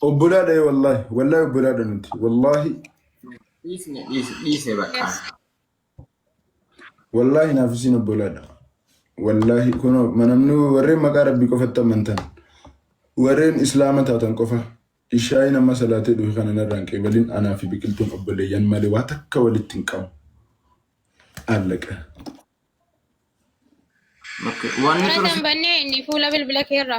Obbolaadha wallaahi wallaahi obbolaadha nuti wallaahi Dhiisne dhiise dhiise bakka. Yes. wallaahi naaf isiin obbolaadha. Wallaahi kun manamni warreen maqaa rabbii qofatti amantan warreen islaama taatan qofa ishaayi nama salaatee dhufe kana narraan qeebalin anaa fi biqiltuun obboleeyyan malee waa takka walitti hin qabu. Allaqa. Bakka- Wanni Mana ture kan bannee inni fuula bilbila keerra.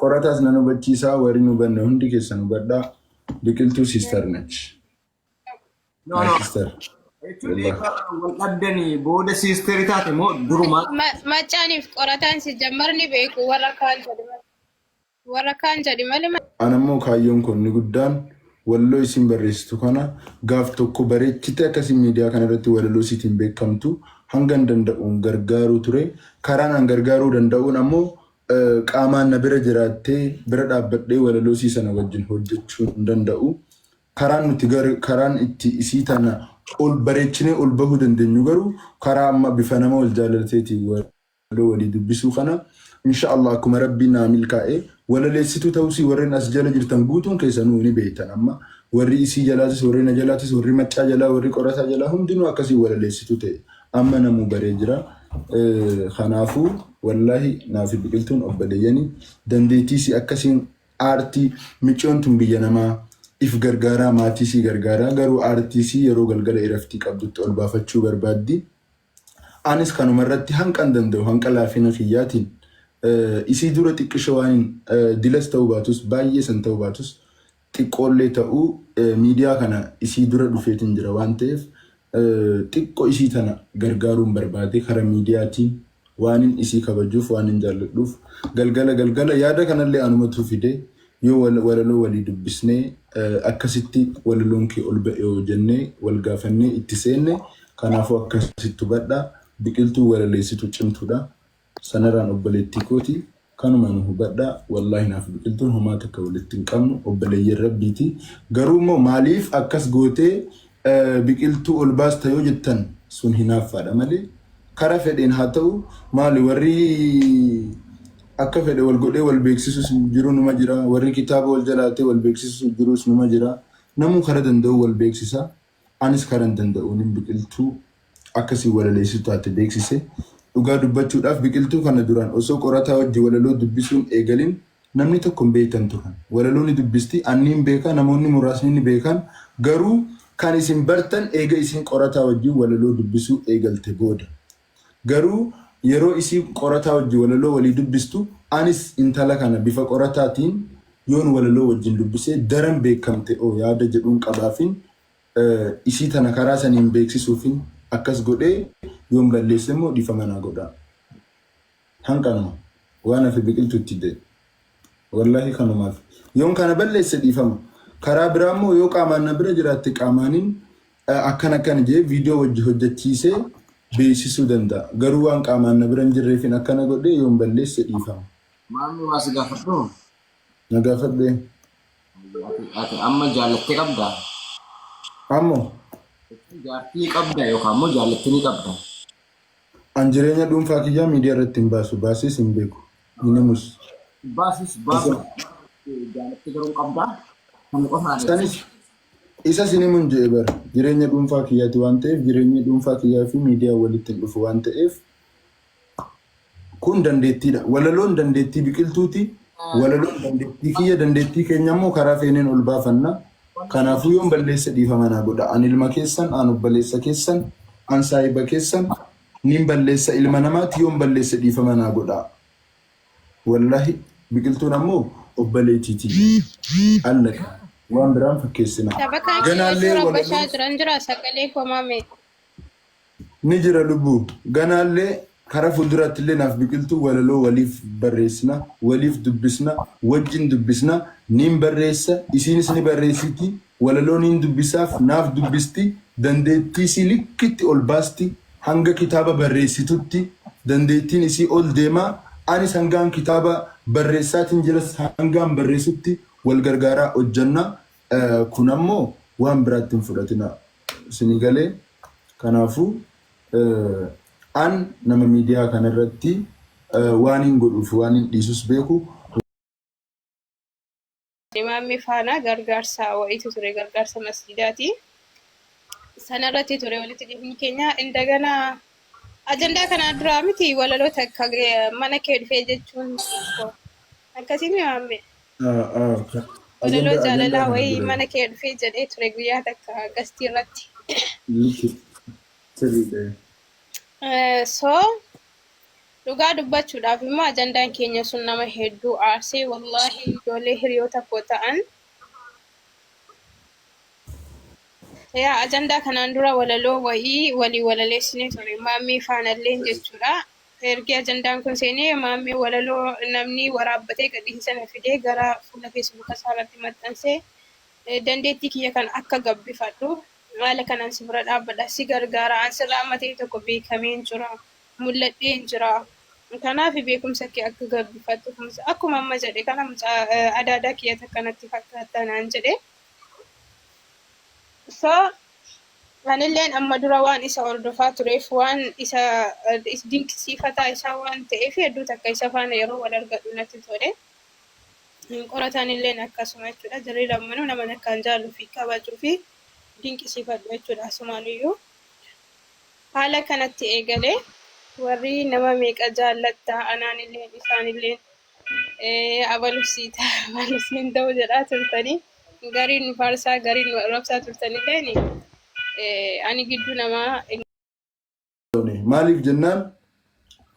Qorataas nan hubachiisaa warri hin hubanne hundi keessan hubadhaa biqiltuu sister nech. No, My no. sister. Jechuun Wallah. eebbaa kana wal dhabdanii booda siisterii taate moo durumaa Ma- Maccaaniif qorataan si jammarni beeku warra kaan jedhi malee. Warra kaan jedhi malee ma- Ana immoo kaayyoon koo inni guddaan walaloo isiin barreessitu kana gaaf tokko bareechitee akkasii miidiyaa kana irratti walaloo isiitiin beekamtu hangan danda'uun gargaaruu ture. Karaan an gargaaruu danda'uun ammoo Qaamaan na bira jiraattee bira dhaabbadhee walaloo isii sana wajjin hojjechuu hin danda'u. Karaan nuti gar- karaan itti isii tana ol bareechinee ol bahuu dandeenyu garuu karaa amma bifa nama wal jaalalateetiin walaloo walii dubbisuu kana insha Allah akkuma rabbiin naa milkaa'e walaleessituu ta'uusii warreen as jala jirtan guutuun keessanuu ni beektan amma warri isii jalaatis warri na jalaatis warri maccaa jalaa warri qorataa jalaa hundinuu akkasii walaleessituu ta'e amma namuu baree jira. Eh, Kanaafuu Wallahi naafi biqiltuun obbaleyyani dandeettii isii akka isiin aartii micyoon tun biyya namaa if gargaaraa maatii isii gargaaraa garuu aartii isii yeroo galgala iraftii qabdutti ol baafachuu barbaaddi anis kanuma irratti hanqan danda'u hanqa laafina kiyyaatiin isii dura xiqqisho waanin dilas ta'uu baatus baay'ee san ta'uu baatus Xiqqoollee ta'uu miidiyaa kana isii dura dhufeetin jira waan ta'eef xiqqo isii tana gargaaruun barbaade kara miidiyaatiin waanin isii kabajuuf waanin jaalladhuuf galgala galgala yaada kanallee anumatu fide yoo walaloo walii dubbisnee akkasitti walaloon kee ol ba'eoo jennee wal gaafannee itti seenne kanaafuu akkasitti hubadha biqiltuu walaleessitu cimtuudha Sanaraan obboleettii kooti kanuma nu hubadhaa wallahi naaf biqiltuun homaa takka walitti hin qabnu obboleeyyan rabbiiti garuu immoo maaliif akkas gootee biqiltuu ol baasta yoo jettan sun hinaaffaadha malee kara fedheen haa ta'u maali warri akka fedhe wal godhee wal beeksisus jiru numa jira warri kitaaba wal jalaatee wal beeksisus jirus numa jira namuu kara danda'u wal beeksisa Anis kanan danda'uunin biqiltuu akka si walaleessitu taate beeksise. Dhugaa dubbachuudhaaf biqiltuu kana duraan osoo qorataa wajji walaloo dubbisuun eegalin namni tokko hin beektan turan. Walaloo ni dubbisti, an niin beeka, namoonni muraasni ni beekan, garuu kan isin bartan eega isiin qorataa wajjin walaloo dubbisuu eegalte booda. Garuu yeroo isiin qorataa wajjin walaloo walii dubbistu anis intala kana bifa qorataatiin yoon walaloo wajjin dubbise daran beekamte o yaada jedhuun qabaafin isii tana karaa saniin beeksisuufin akkas godhee yoon balleessemmoo dhiifama naa godhaa. Kan kanuma waan hafe biqiltu itti da'i wallahi kanumafi yoon kana balleesse dhiifama karaa biraa immoo yoo qaamaan na bira jiraatte qaamaanin akkan akkan jee viidiyoo wajji hojjachiisee beeksisuu danda'a garuu waan qaamaan na bira hin jirreefin akkana godhee yoon balleesse dhiifama. Maammi waa si gaafadhu? Na gaafadhu ee. Hayyee ati ati amma jaallatte qabda? Ammo. Jechuun jaartii qabda yookaan immoo jaallatte ni qabda? An jireenya dhuunfaa kiyyaa miidiyaa irratti hin baasu. Baasees hin beeku. Hin himus. Baasis baasuu jaalattee garuu hin qabdaa. Kana qofaadha. Isanis isas hin himun jedhe bar. Jireenya dhuunfaa kiyyaati waan ta'eef jireenyi dhuunfaa kiyyaa fi miidiyaan walitti hin dhufu waan ta'eef Kun dandeettiidha. Walaloon dandeettii Biqiltuuti. Walaloon dandeettii kiyya, dandeettii keenya immoo karaa feeneen ol baafanna. Kanaafuu yoon balleesse dhiifama naa godhaa. An ilma keessan, an obboleessa keessan, an saahiba keessan, nin balleessa ilma namaati, yoon balleesse dhiifama naa godhaa. Wallahi Biqiltuun ammoo obbaleetii tiyya. Allaka. Waan biraan fakkeessinaa. Taphataan Ganaallee Qeerroo Rabashaa walaloo jiran jira sagalee koo mamee. Ni jira lubbu. Ganaallee kara fulduraattillee naaf biqiltuu walaloo waliif barreessina, waliif dubbisna, wajjin dubbisna, niin barreessa, isiinis ni barreessiti, walaloo niin dubbisaaf, naaf dubbisti, dandeettii isii likkitti ol baasti, hanga kitaaba barreessitutti dandeettiin isii ol deema, anis hangaan kitaaba barreessaatiin jiras hangaan barreessutti wal gargaaraa hojjanna, kun ammoo waan biraatti hin fudhatinaa. Isinii galee? Kanaafuu an nama miidiyaa kana irratti waanin godhuu fi waanin dhiisus beeku. Imaamni faana gargaarsa wa'iitu ture, gargaarsa masjiidaati. Sana irratti ture walitti dhufni keenya. Indagana Ajandaa kanaa duraa miti walaloo takka mana kee dhufee jechuun koo. Akkasii miti maammee. Walaloo jaalalaa wayii mana kee dhufee jedhee ture guyyaa takka gastii irratti. So dhugaa dubbachuudhaaf immoo ajandaan keenya sun nama hedduu aarsee wallaahi ijoollee hiriyoota koo ta'an Yaa ajandaa kanaan dura walaloo wayii walii walaleessinee ture maammii faanalleen jechuudha. Ergii ajandaan kun seenee maammii walaloo namni waraabbatee gadhiise sana fidee gara fuula feesbuuka isaa irratti maxxansee dandeettii kiyya kan akka gabbifadhu haala kanaan si bira dhaabbadha si gargaara an sirra amma ta'e tokko beekameen jira mul'adheen jira kanaaf beekumsa kee akka gabbifattu akkuma amma jedhe kana mucaa adaadaa kiyya takka natti fakkaattaa naan jedhe. So, anilleen amma dura waan isa hordofaa tureef, waan isa dinqisiifataa isaa waan ta'eef hedduu takka isa faana yeroo wal argadhu natti tole. Qoratanilleen akkasuma jechuudha. Jarri lammanuu naman akkaan jaaluu fi kabajuu fi dinqisiifadhu jechuudha asumaanuyyuu. Haala kanatti eegale warri nama meeqa jaallattaa anaanilleen isaanilleen Eh, abaluuf sii ta'a abaluuf siin ta'u jedhaa turtanii gariin nu faarsaa gariin nu arrabsaa turtanillee ni eh, ani gidduu namaa hin qabne. Maaliif jennaan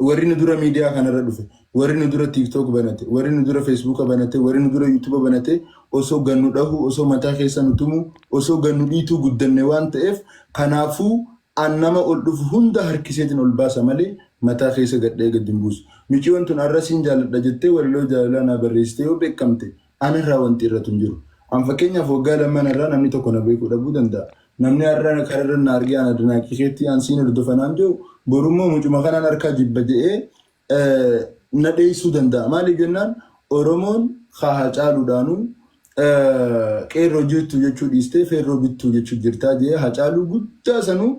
warri nu dura miidiyaa kanarra dhufe, warri nu dura TikTok banate, warri nu dura Facebook banate, warri nu dura YouTube banate osoo gannu dhahu, osoo mataa keessa nu tumu, osoo gannu dhiituu guddanne waan ta'eef kanaafuu An nama ol dhufu hunda harkiseetin ol baasa malee mataa keessa gadhee gad hin buusu. Miciyoon tun arra siin jaaladha jettee walaloo jaalalaa naa barreessite yoo beekkamte anarraa wanti irratu hin jiru. An fakkeenyaaf waggaa lamman arraa namni tokko na beekuu dhabuu danda'a. Namni arra kararra na argee an adanaaqii keetti an siin hordofa naan je'u borummoo mucuma kanaan harkaa jibba je'ee na dheessuu danda'a. Maaliif jennaan Oromoon haa Hacaaluudhaanuu qeerroo jirtu jechuu dhiistee feerroo bittuu jechuu jirtaa jee Hacaaluu guddaa sanuu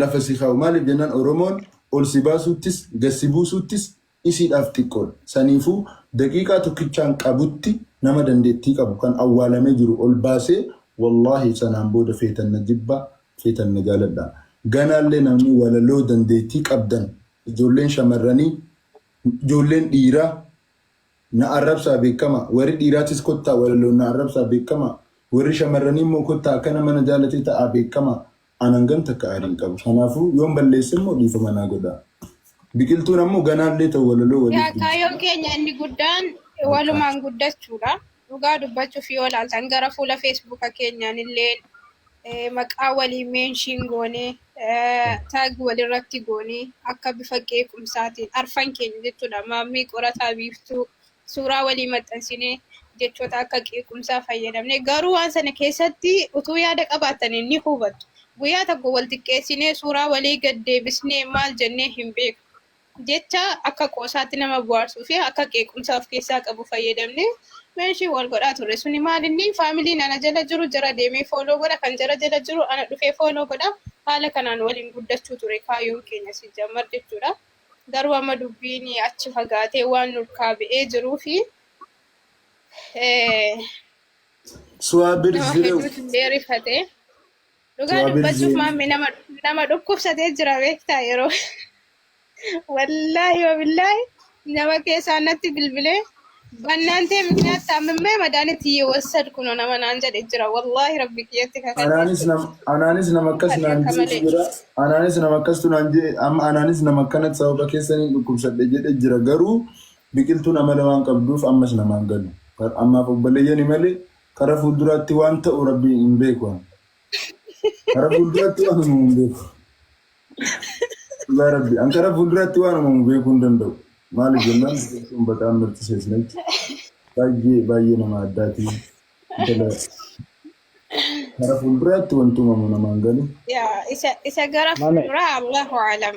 lafa si kaa'u. Maaliif jennaan Oromoon ol si baasuuttis gad si buusuuttis isiidhaaf xiqqoodha. Saniifuu daqiiqaa tokkichaan qabutti nama dandeettii qabu kan awwaalamee jiru ol baasee wallaahi sanaan booda feetan na jibbaa feetan na jaaladhaa. Ganaallee namni walaloo dandeettii qabdan Ijoolleen shamarranii ijoolleen dhiiraa na arrabsaa beekamaa warri dhiiraatis kottaa walaloon na arrabsaa beekamaa warri shamarranii immoo kottaa akkana mana jaalatee ta'aa beekamaa an hangam takka aariin qabu kanaafuu yoon balleesse immoo dhiifama naa godhaa biqiltuun ammoo ganaallee ta'u walaloo waliif Yaa dubbisa. kaayyoon keenya inni guddaan walumaan guddachuudha. Dhugaa dubbachuuf yoo ilaaltan gara fuula feesbuuka keenyaan illee eh, maqaa walii meenshiin goonee eh, taag walirratti goonee akka bifa qeequmsaatiin arfan keenya jechuudha maammii qorataa biiftuu suuraa walii maxxansinee jechoota akka qeequmsaa fayyadamne garuu waan sana keessatti utuu yaada qabaatanii ni hubattu guyyaa tokko wal xiqqeessinee suuraa walii gad deebisnee maal jennee hin beeku Jecha akka qoosaatti nama bohaarsuu fi akka qeequmsaa of keessaa qabu fayyadamnee mention wal godhaa turre. Suni maal inni family ana jala jiru jara deemee follow godha, kan jara jala jiru ana dhufee follow godha. Haala kanaan waliin guddachuu ture kaayyoon keenya sijjammar jechuudha. Garuu amma dubbiin achi fagaatee waan nurkaa ba'ee jiruu fi Suwaa nama Birzirew. hedduutu illee rifate. Dhugaa Too dubbachuuf Abirziin maamme nama nama dhukkubsatee jira beektaa yeroo wallaahi wabillaahi nama keessaa natti bilbilee bannaantee mikinaat taamimmee madaanitti yeewwassad kuno nama naan jedhe jira wallaahi rabbi kiyyatti kakadhe anaanis nam anaanis nama akkas kadhe naan akka jeetu malee jira anaanis nama akkastu naan jee amma anaanis nama akkanatti sababa keessaniin dhukkubsadhe jedhe jira garuu biqiltuun amala waan qabduuf ammas namaan galu Kar- ammaaf obboleeyyani malee Kara fuulduraatti waan ta'u rabbi hin beeku an. Kara fuulduraatti waan uumamu hin beeku. Dhugaa rabbi an kara fuulduraatti waan uumamu beekuu hin danda'u. Maaliif jennaan biqiltuun baqaan mirti seesnetti baay'ee baay'ee nama addaati. Intala kara fuulduraatti wanti uumamu namaan galu. Yaa isa isa gara Mame. fuulduraa Allahu alam.